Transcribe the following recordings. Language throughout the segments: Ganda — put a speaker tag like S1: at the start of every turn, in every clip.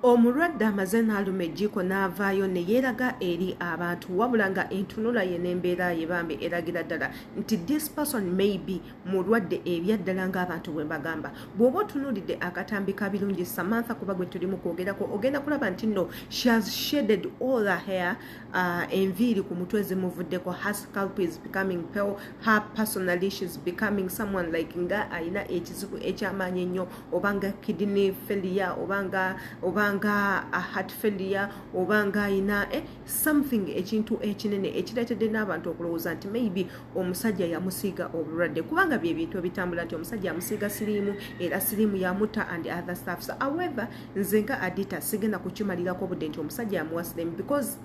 S1: omulwadde amaze n'aluma ejjiiko n'avaayo ne yeeraga eri abantu wabula nga entunula ye n'embeera ye bambi eragira ddala nti this person may be mulwadde ebyaddala ng'abantu bwe bagamba bw'oba otunuulidde akatambi ka birungi samantha kuba gwe tuli mu kwogerako ogenda kulaba nti nno she has shaded all her hair uh, enviiri ku mutwe zimuvuddeko her scalp is becoming pale her personally she's becoming someone like nga alina ekizibu ekyamaanyi ennyo obanga kidney failure obanga obanga heart failure obanga alina eh, something ekintu ekinene ekireetedde n'abantu okulowooza nti maybe omusajja yamusiiga obulwadde kubanga bye bintu ebitambula nti omusajja yamusiiga siriimu era siriimu yamutta and other staffs however nze nga adita sigenda kukimalirako obudde nti omusajja amuwasidemu because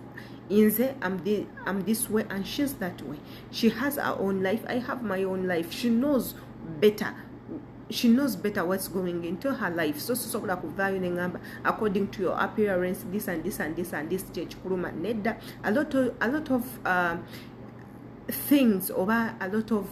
S1: inze am, the, am this way and shes that way she has her own life i have my own life she knows better she knows better what's going into her life so sisobola kuvaayo neŋamba according to your appearance this and this and this and this kyekikuluma nedda a lot of, a lot of uh, things oba a lot of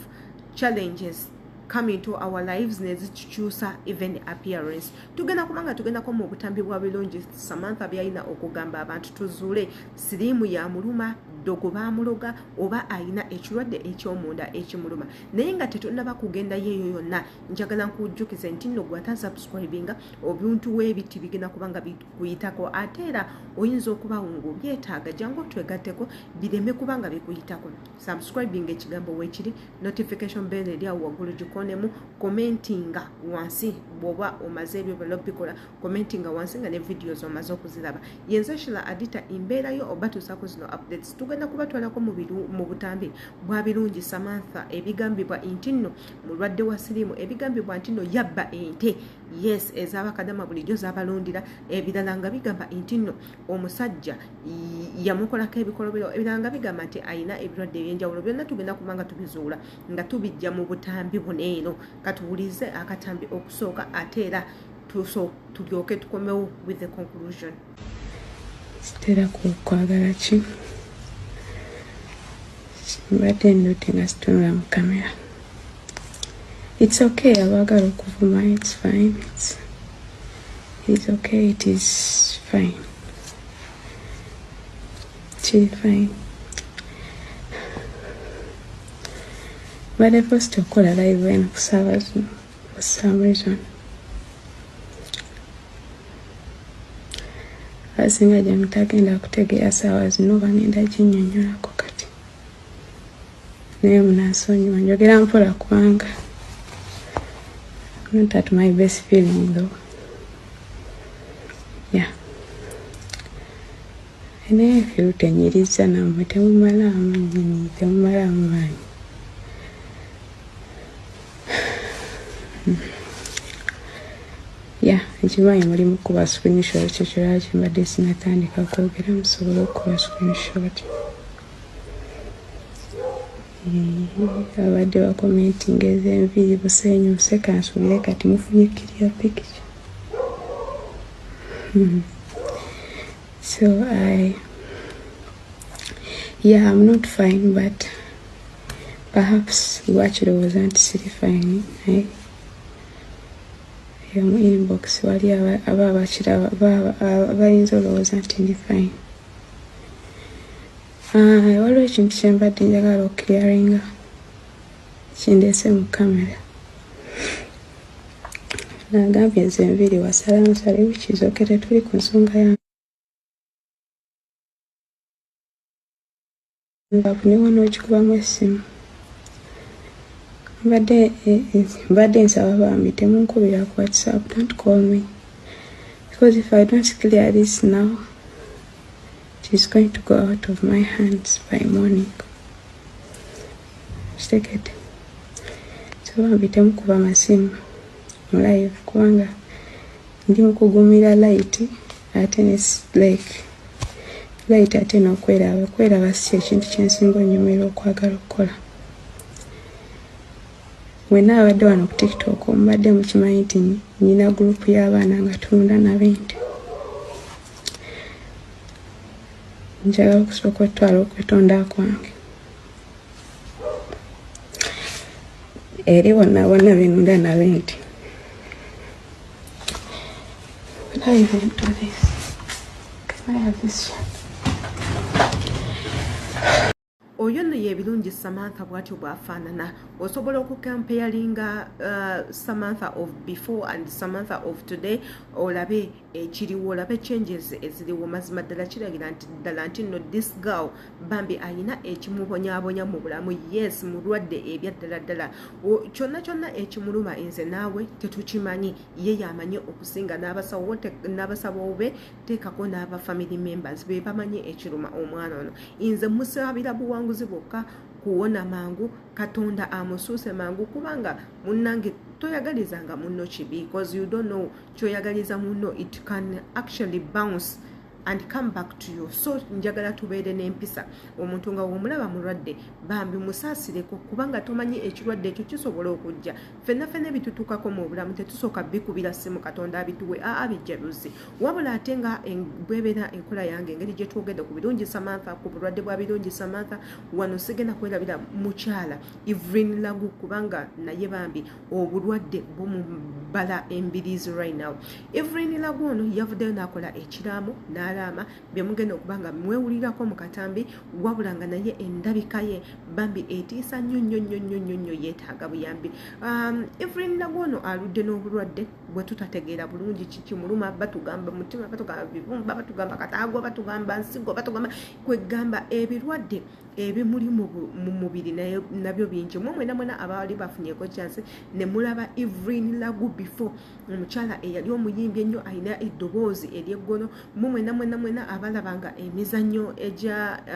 S1: challenges come into our lives nezitukyusa even appearance tugenda kubanga tugendako mu butambi bwa bilungi samantha byalina okugamba abantu tuzuule siriimu ya muluma ddogo bamuloga oba alina ekirwadde ekyomunda ekimuluma naye nga tetunaba kugenda yeeyo yonna njagala nkujjukize nti nno gwata subscribinga obuntu webiti bigenda kubanga kuyitako ate era oyinza okubawo ngaobyetaaga jangu otwegatteko bireme kubanga bikuyitako subscribing ekigambo wekiri notification bell eri awo waggulu gikonemu commentinga wansi bwoba omaze ebyo byona obikola commentinga wansi nga ne videos omaze okuziraba yenza shila adita embeerayo oba tuusako zino updates tugenda kubatwalako mu butambi bwa birungi samantha ebigambibwa nti nno mulwadde wa siriimu ebigambibwa nti nno yabba ente yes ezabakadama bulijjo zabalondera ebirala nga bigamba nti nno omusajja yamukolako ebikolobero ebirala nga bigamba nti alina ebirwadde ebyenjawulo byonna tugenda kuba nga tubizuula nga tubijja mu butambi buno eno katuwulize akatambi okusooka ate era tulyoke tukomewo with the conclusion
S2: sitera kukwagala ki mbadde ndote nga situnula mu kamera its okay abaagala okuvuma its fine its, its okay it is fine kiri fine mbadde post okukola live eno kusaabazuno for some reason abasinga gye mutagenda kutegeera saawa zino bagenda kinyonyolako kati naye munasonyiwa njogera mpola kubanga not at my best feeling though yeah naye feel tenyiriza namwe temumalaamu nyini temumalaamu maanyi ya ekimanyi mulimu kuba screenshot kyekiraki mbadde sinatandika kwogera musobole okukuba screenshot eh, abadde bakomentinga ezenviiri busenyu nseka nsubire kati mufunye kirya pikica hmm. so i yeah i'm not fine but perhaps lwakirowooza nti siri fine naye eyo mu inbox wali aba abakiraba bayinza olowooza nti ndi fine ah, waliwo ekintu kyembadde njagala okukiriaringa kindeese mu kamera nagambye nze nviri wasala nsale wikizoke tetuli ku nsonga yange Bakunewana okikubamu essimu mbadde eh, eh, mbadde nsaba bambi temunkubira ku whatsapp don't call me because if i don't clear this now it is going to go out of my hands by morning kitegedde so bambi temukuba masimu mu live kubanga ndi mukugumira layiti ate ne like like ate n'okweraba okweraba si ekintu kyensinga onyumira okwagala okukola wena abadde wano ku tiktok omubadde mukimanyi nti nyina gurupu y'abaana nga tulunda nabente njagala okusooka otwala okwetonda kwange eri wonna bona benunda nabente Can I even do this? Can I have this
S1: one? oyo nno yebirungi samantha bwatyo bwafaanana osobola okukampeyalinga uh, samantha of before and samantha of today olabe ekiriwo olabe changes eziriwo mazima ddala kiragira nti ddala nti nno this girl bambi ayina ekimubonyabonya mu bulamu yes mulwadde ebyaddala ddala kyonna kyonna ekimuluma nze naawe tetukimanyi ye yamanyi okusinga n'abasabawo be teekako n'aba family members be bamanyi ekiruma omwana ono nze musabira buwanguzi bwokka kuwona mangu katonda amusuuse mangu kubanga munnange toyagalizanga munno kibi bcause you don't know kyoyagaliza munno it can actually bounce and come back to you so njagala tubeere n'empisa omuntu nga womulaba mulwadde bambi musaasireko kubanga tomanyi ekirwadde ekyo kisobola okujja fenna fenna ebitutukako mu obulamu tetusooka bikubira simu katonda abituwe aa bijjaluzi wabula ate nga bwebeera enkola yange engeri gyetwogedde ku birungi samantha ku bulwadde bwa birungi samantha wano sigenda kwerabira mukyala ivrin lagu kubanga naye bambi obulwadde bumubala embiriizi right now evelyn lagu ono yavuddeyo n'akola ekiraamo n'alaama byemugenda okuba nga mwewulirako mu katambi wabula nga naye endabika ye bambi etiisa nnyo nnyo nnyo nnyo nnyo nnyo yeetaaga buyambi um, evelyn lagu ono aludde n'obulwadde bwe tutategeera bulungi kiki muluma batugamba mutima batugamba bibumba batugamba kataago batugamba nsigo batugamba kwegamba ebirwadde ebimuli mu mubiri nabyo bingi omwe mwena mwena abaali bafunyeko chance ne mulaba evelyn lagu before omukyala eyali omuyimbi ennyo alina eddoboozi eryeggono mwe mwena mwena mwena abalabanga emizannyo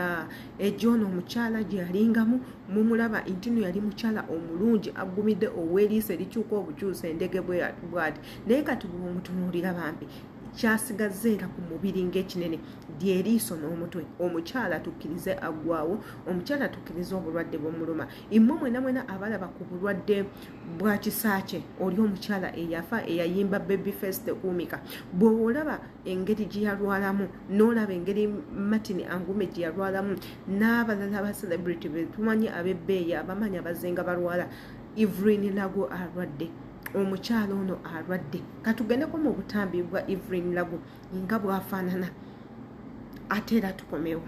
S1: ah, egyono omukyala gye yalingamu mumulaba ntino yali mukyala omulungi aggumidde ow'eriiso erikyuka obukyusa endege bwad naye kati bwomutunuulira bambi kyasigazza era ku mubiri ng'ekinene lyeriiso n'omutwe omukyala tukkirize aggwawo omukyala tukkirize obulwadde bwomuluma immwe mwena mwena abalaba ku bulwadde bwa kisaakye oli omukyala eyafa eyayimba baby face tekuumika bweolaba engeri gye yalwalamu n'olaba engeri martin angume gye yalwalamu n'abalala aba celebrity betumanyi abebbeeyi abamanyi abazenga balwala evelyn lago alwadde omukyala ono alwadde katugendeko mu butambi bwa evelyn lagu nga bwafaanana ate era tukomewo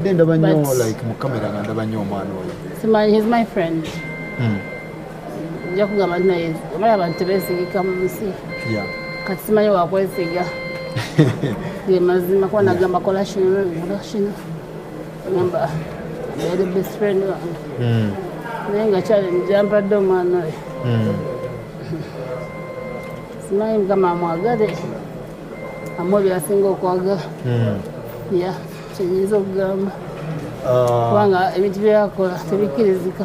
S3: mbadde ndaba nnyo like mu kamera nga ndaba nnyo omwana oyo he's my friend
S4: mm. nja kugamba nti naye omala abantu tebesigika mu nsi kati simanyi wakwesiga ge mazima kuba nagamba kola kino nola kino gamba yali best friend wange hmm. naye nga kyali njampadde omwana oyo hmm. simanyi mukama amwagale amuwa byasinga okwagala hmm. ya kyenyinza okugamba ah. kubanga ebintu byeyakola tebikkirizika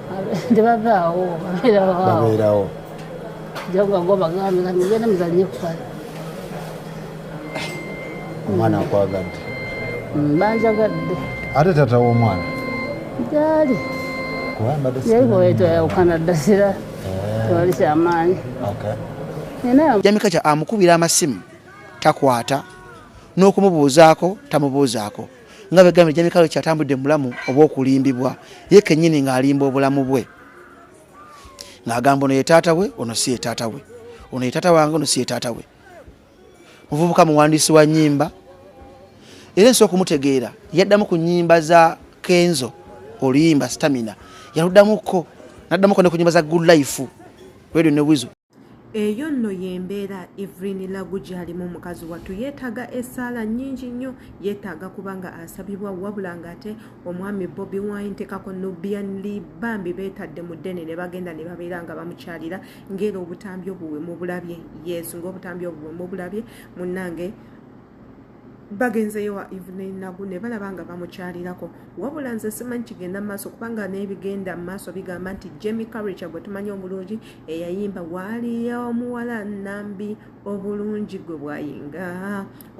S3: tebavaawo babeerawo jagwagobagambigenda muzanye kukala omwana akwagadde mm,
S4: banjagadde ate tata
S3: womwana gyali
S4: yayibwetwayawukana ddasira eh. tewali kyamaanyi
S5: jamika kya amukubira amasimu takwata n'okumubuuzaako tamubuuzaako nga begambye jamikalo kyatambudde mubulamu obwokulimbibwa ye kenyini ng'alimba obulamu bwe ng'agamba ono ye taata we ono si ye taata we ono ye taata wange ono si ye taata we muvubuka muwandiisi wa nyimba era ensi okumutegeera yaddamu ku nyimba za kenzo oluyimba stamina yaluddamuko naddamuko ne ku nyimba za good life radio ne wizo eyo nno
S1: yembeera evelyn lagu gyalimu mukazi wattu yeetaaga esaala nyingi nnyo yeetaaga kubanga asabibwa wabula nga ate omwami bobi wine tekako nubianli bambi beetadde mu ddene ne bagenda ne babeera nga bamukyalira ngaera obutambi obwo bwe mubulabye yes ngaobutambi obwo bwe mubulabye munnange bagenzeyo wa evening nagu ne balaba nga bamukyalirako wabula nze simanyi kigenda mu maaso kubanga n'ebigenda mu maaso bigamba nti jemi carica gwe tumanyi obulungi eyayimba waaliyo omuwala nambi obulungi gwe bwayinga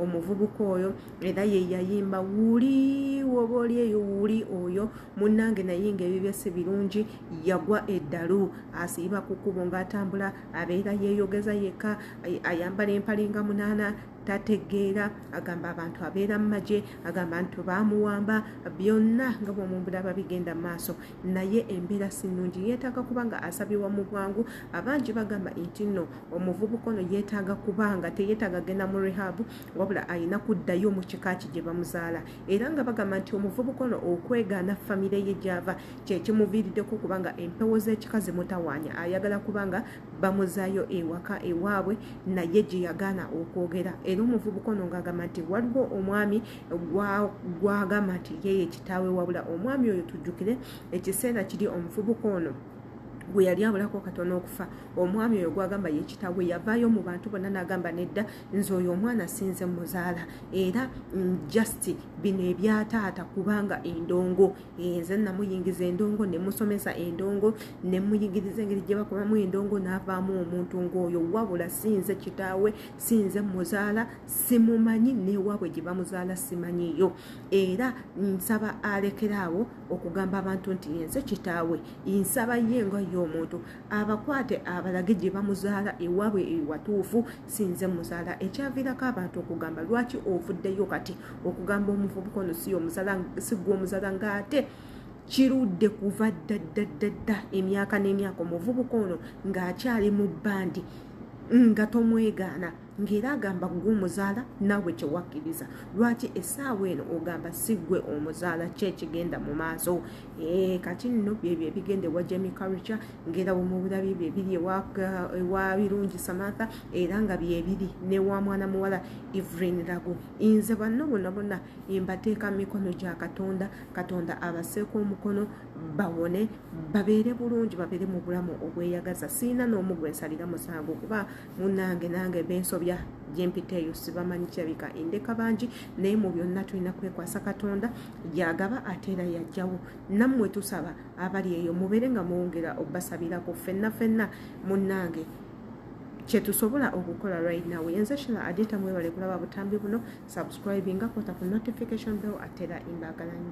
S1: omuvubuka oyo era ye yayimba wuli woba oli eyo wuli oyo munnange nayinga ebibye si birungi yagwa eddalu asiiba ku kkubo ng'atambula abeera yeeyogeza yekka ayambala empalinga munaana tategeera agamba abantu abeera mu magye agamba nti baamuwamba byonna nga bwomumbulaba bigenda mu maaso naye embeera si nnungi yeetaaga kuba nga asabibwa mu bwangu abangi bagamba nti nno omuvubuka ono yeetaaga kuba nga teyeetaaga genda mu rehabu wabula alina kuddayo mu kika ki gye bamuzaala era nga bagamba nti omuvubuka ono okwegaana famire ye gyava kyekimuviiriddeko kubanga empewo z'ekika zimutawaanya ayagala kuba nga bamuzaayo ewaka ewaabwe naye gye yagaana okwogera era omuvubuka ono ng'agamba nti waliwo omwami gwagamba nti yeye kitaawe wabula omwami oyo tujjukire ekiseera kiri omuvubuka ono gwe yali abulako katono okufa omwami oyo gwagamba yekitawe yavaayo mu bantu bonna nagamba nedda nze oyo omwana sinze muzaala era mm, just bino ebyataata kubanga endongo nze namuyingiza endongo nemusomesa endongo nemuyigiriza engeri gyebakomamu endongo navaamu omuntu ngaoyo wabula sinze kitaawe sinze muzaala simumanyi newaabwe gyebamuzaala simanyiyo era nsaba alekeraawo okugamba abantu nti yenze kitaawe nsaba ye nga ye omuntu abakwate abalage gyebamuzaala ewaabwe ewatuufu sinze muzala ekyavirako abantu okugamba lwaki ovuddeyo kati okugamba omuvubuka ono si omuzala sigwa omuzala ngaate kirudde kuva ddaddadda emyaka n'emyaka omuvubuka ono ng'akyali mu bbandi nga tomwegaana ng'era agamba gwe omuzaala naawe kyewakkiriza lwaki essaawa eno ogamba si gwe omuzaala kyekigenda mu maaso Eh, kati nno byebyo ebigenda ewa jemi karuca ngaera wemubira byebyo ebiri ewa birungi samatha era nga byebiri newa mwana muwala evrin lago nze banno bona bona mbateeka mu mikono gya katonda katonda abaseeko omukono bawone babeere bulungi babeere mu bulamu obweyagaza siina n'omu gwe nsalira musango kuba munange nange bensobya gyempiteeyo sibamanyi kirabika endeka bangi naye mu byonna tulina kwekwasa katonda gyagaba ate era yajjawo nammwe tusaba abali eyo mubeere nga mwongera obbasabirako fenna fenna munnange kyetusobola okukola right now yenze shila adita mwebale kulaba butambi buno subscribinga kota ku notification bell atera imbagalanyo